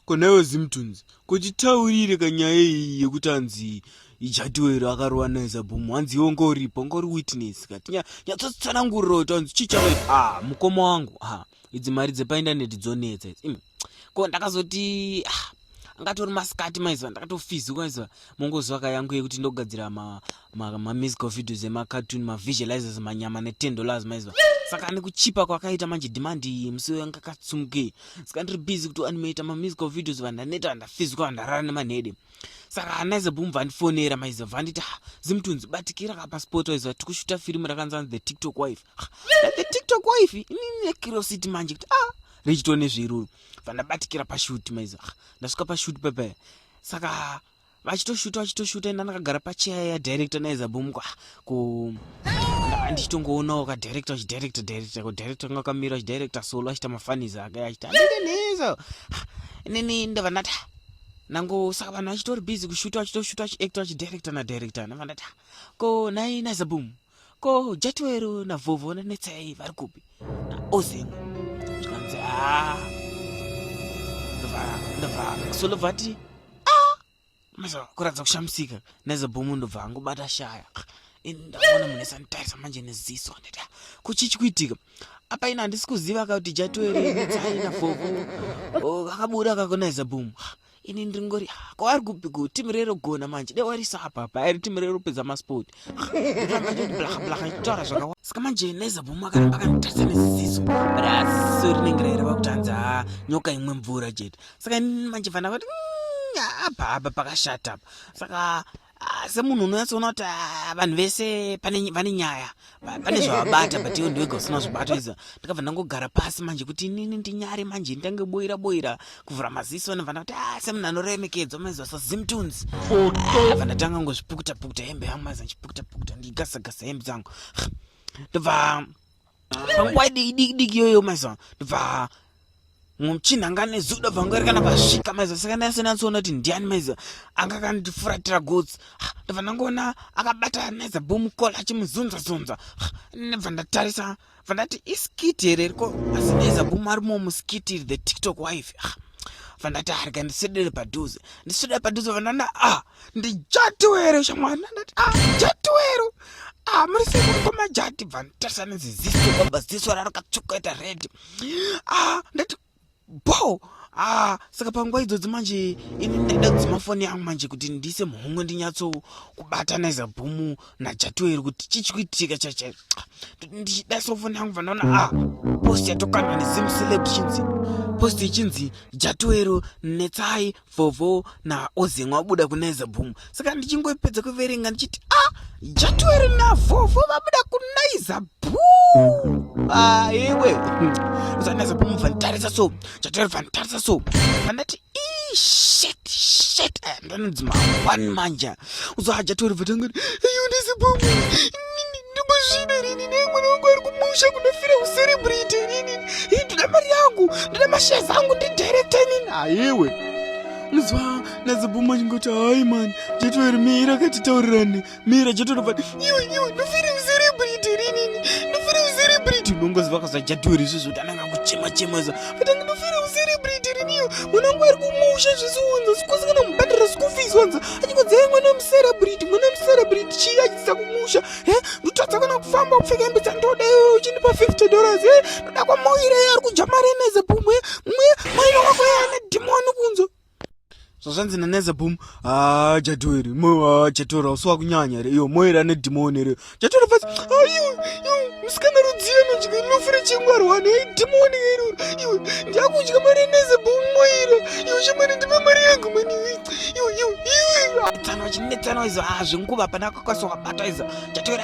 konewe zimtons kochitaurire kanyaya iyi yekuti anzi ijatiwero akarova naye zabhomu hanzi iwo ngoripo ngori witness kati nyatsotsvanangurira kuti anzi chii chava ah, mukoma wangu ah, idzi mari dzepaindaneti dzonetsa idzi ko ndakazoti ah, angatori masikati maiziva ndakatofiziwa maiziva mongozwaka yangu yekuti ndogadzira mamusical videos emacartoon mavisualizers manyama neten dollars maiziva saka nekuchipa kwakaita manje demand iyi musi uyo anga katsumukei saka ndiri busy kuti animata mamusical videos vanhu ndaneta vandafiziwa vandarara nemanhede saka hanaiza boom vandifonera maiziva vanditi ha zimutunzi batikira ka pasport waiziva tikushuta firimu rakanzanzi the tiktok wife the tiktok wife inini necuriosity manje kuti ah richitone zviruru vandabatikira pashuti maiza ah, ndasvika pashuti pepe saka vachitoshuta vachitoshuta ina ndakagara pacheya yadirector naiza bomuko ah, ku andichitongoonawo kadirector achidirector director kudirector kanga kamira achidirector solo achita mafanizi ake achita ndineizo ah, inini ndava ndati nango saka vanhu vachitori busy kushuta vachitoshuta achiactor achidirector nadirector ndava ndati ko nai naiza bomu ko jatiwero navhovho nanetsai vari kupi naozemu zvikanzi haa ndobva maxwell obva ati masa kuratidza kushamisika nezebhomu ndobva angobata shaya ndaona munhu esanditarisa manje neziso ndida kuchichi kuitika apa ina handisi kuziva ka kuti jatiwero netsai navhovho oh, vakabuda kakonaiza bhomu ah, ini ndringori ah, ko ari kupiko timu rero gona manje de warisa apa pa ari timu rero pedza masport ndifamba ndi blaha blaha itora zvakawa saka manje neza buma kana baka nditasa nesiziso but asi so rinenge rero vakutanza ah, nyoka imwe mvura jet saka manje fana kuti mm, apa apa pakashata apa saka Ah, semunhu unonyatsoona kuti ah, vanhu vese vane nyaya pane zvavabata but iwe ndiwega usina zvibata izvo ndikabva ndangogara pasi manje kuti inini ndinyare manje nditange boira boira kuvhura maziso ndibva ndakuti ah, semunhu anoremekedzwa maizwa sazimtunes bva ndatanga ngozvipukuta pukuta hembe yangu maiza ndichipukuta pukuta ndigasagasa hembe dzangu ndobva panguva idikidiki iyoyo maiziva ndobva muchinhu anga ane zuda bva ngari kana pasvika maiziva saka ndaisenatsoona kuti ndiani maiziva anga kandifuratira gotsi ndobva ndangoona akabata maiza bomukola achimuzunza zunza ndobva ndatarisa bva ndati iskiti here riko asi maiza bomu arimo muskiti the tiktok wife bva ndati arika ndisedere padhuze ndisedere padhuze bva ndanda ah ndijatiwero shamwana ndati ah, jatiwero ah, muri sei muri kwamajati bva nditarisa neziziso baba ziso rarakatsvuka ita red ah, ndati bo ah, saka panguva idzodzi manje ini ndaida kudzima foni yangu manje kuti ndiise muhomwe ndinyatso kubataniza bhumu najatiwero kuti chichikuitika chachaio ah, ndichidaisawo foni yangu vandaona ah, post yatokandwa nezimseleb chinzi post ichinzi jatiwero netsai vovo naozemwa wabuda kunaiza boom saka ndichingoipedza kuverenga ndichiti a ah, jatueri navovo vabuda kunaiza boom aiwe ah, usanaiza boom vanitarisa so jatueri vanitarisa so vandati shit shit eh, ndononzi mangwani manja uzohajatori vatangani iyu ndisi boom Ndimuzvino rini ne mwana wangu ari kumusha kunofira ucelebrity rini. Hii ndina mari yangu, ndina mashares angu ndi director rini. Haiwe. Nzwa nazibuma ndingoti hayi mani jetoeri mira akati taurirane mira jetorova iwe iwe ndofira ucelebrity rinini ndofira ucelebrity unongoziva kaza jatoeri izvozvo tananga kuchema chema za Kana ndinofira ucelebrity riniyo mwana wangu ari kumusha zvisiwanza sikosi kana mubhadhara school fees wanza achikodzeya mwana wemucelebrity mwana wemucelebrity chii achitisa kumusha e ndotadza kana kufamba kupfeka hembe dzandoda iwe uchindipa 50 dollars e ndoda kwamoira ye ari kudya mari enezebumwe mwe mwaina wako yaane dhimoni kunzo zvazvanzi naneza boom haa ah, jatueri moyo ah, jatueri hausi wakunyanya here iyo moyo ira nedhimoni here jatueri fasi ayo ah, musikana rudziyo anodya inofu rechingwari wani ei dhimoni iri iwe ndiakudya mari yaneza boom moyo ira iwe shamari ndipe mari yangu mani iwe iwe iwe tano chinetsano izo haa zvenguva pana akakwaso wabata izo jatueri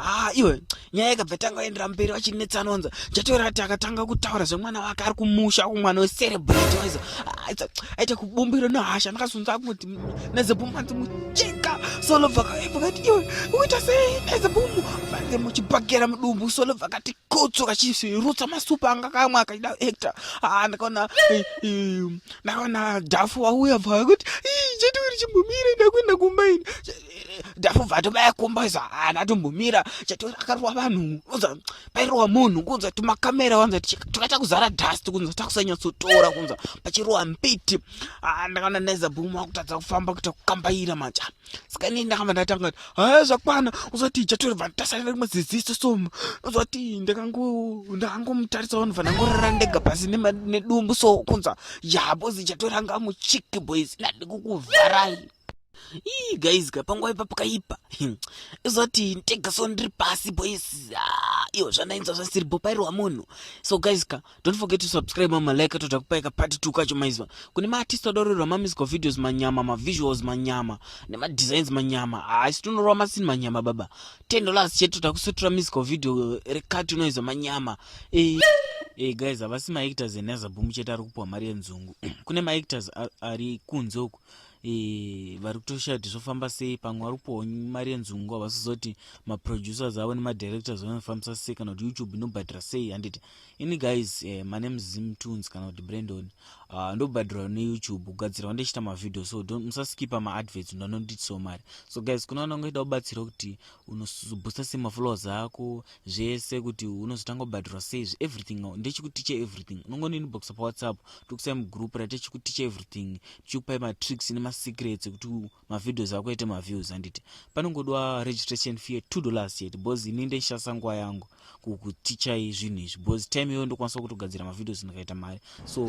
haa ah, iwe nyaya ikabva tanga endera mberi vachinetsa anonza chatoera ati akatanga kutaura zvemwana wake ari kumusha ku mwana wecerebrate waizo aita kubumbiro nehasha ndakazonza kumuti nezebumanzi mucheka solo vakati iwe uita sei nezebumu vange muchibhagera mudumbu solo vakati kotso kachisirutsa masupa anga kamwe akaida actor haa ah, ndakaona eh, eh, ndakaona dhafu wauya bva kuti chetiuri chimbumire ndakuenda kumba ini ndafubvato baya kumbaisa haana tombomira chatori akarowa vanhu kunza pairowa munhu kunza tumakamera wanza takaita kuzara dust kunza takusanyatsotora kunza pachirowa mbiti ah, ndakaona naiza bhuma wakutadza kufamba kuita kukambaira manja saka inini ndakamba ndatanga kuti haya zvakwana uzoti chatori vanhu tasarira rimwe ziziso somu uzoti ndakangomutarisa vanhu vanangorara ndega pasi nedumbu so kunza yabo zichatori anga muchiki boys ndadikukuvharai ii guys ka panguva ipa pakaipa izoti ntegaso ndiri pasi boys ah, iyo zvandainzwa zvasiri bopairwa munhu so guys ka don't forget to subscribe mamalike toda kupaika part two kacho maizwa kune maartist adorerwa mamusical videos manyama mavisuals manyama nemadesigns manyama haisi ah, tinorova masini manyama baba ten dollars chete toda kusutura musical video eh, rekati unoizwa manyama e Hey guys, havasi maactors enazaboom chete ari kupuwa mari yenzungu. Kune maactors ari kunze uku vari kutoshaya kuti zvofamba sei pamwe vari kupiwa mari yenzungu havasizoti maproducers avo nemadirectors vanofambisa sei kana kuti youtube inobhadhira sei handiti ini guys eh, my name zim tunes kana kuti brandon uh, ndobhadhirwa neyoutube kugadzirwa ndichiita mavideo so musaskipa maadverts ndanonditisawo mari so guys kuna vanangoita kubatsira kuti unobhusta sei mafollowers ako zvese kuti unozotanga kubhadhirwa seizvi everything now ndechikuticha everything unongoninboxa pawhatsapp tokusai mugroup ratechikuticha everything tichikupai matricks nemasecrets ekuti mavideos ako ete maviews handiti panongodwa registration fee two dollars chete bcause ini ndechishasa nguva yangu kukutichai zvinhu izvi bcause time iyoyo ndokwanisa kutogadzira mavideos ndikaita mari so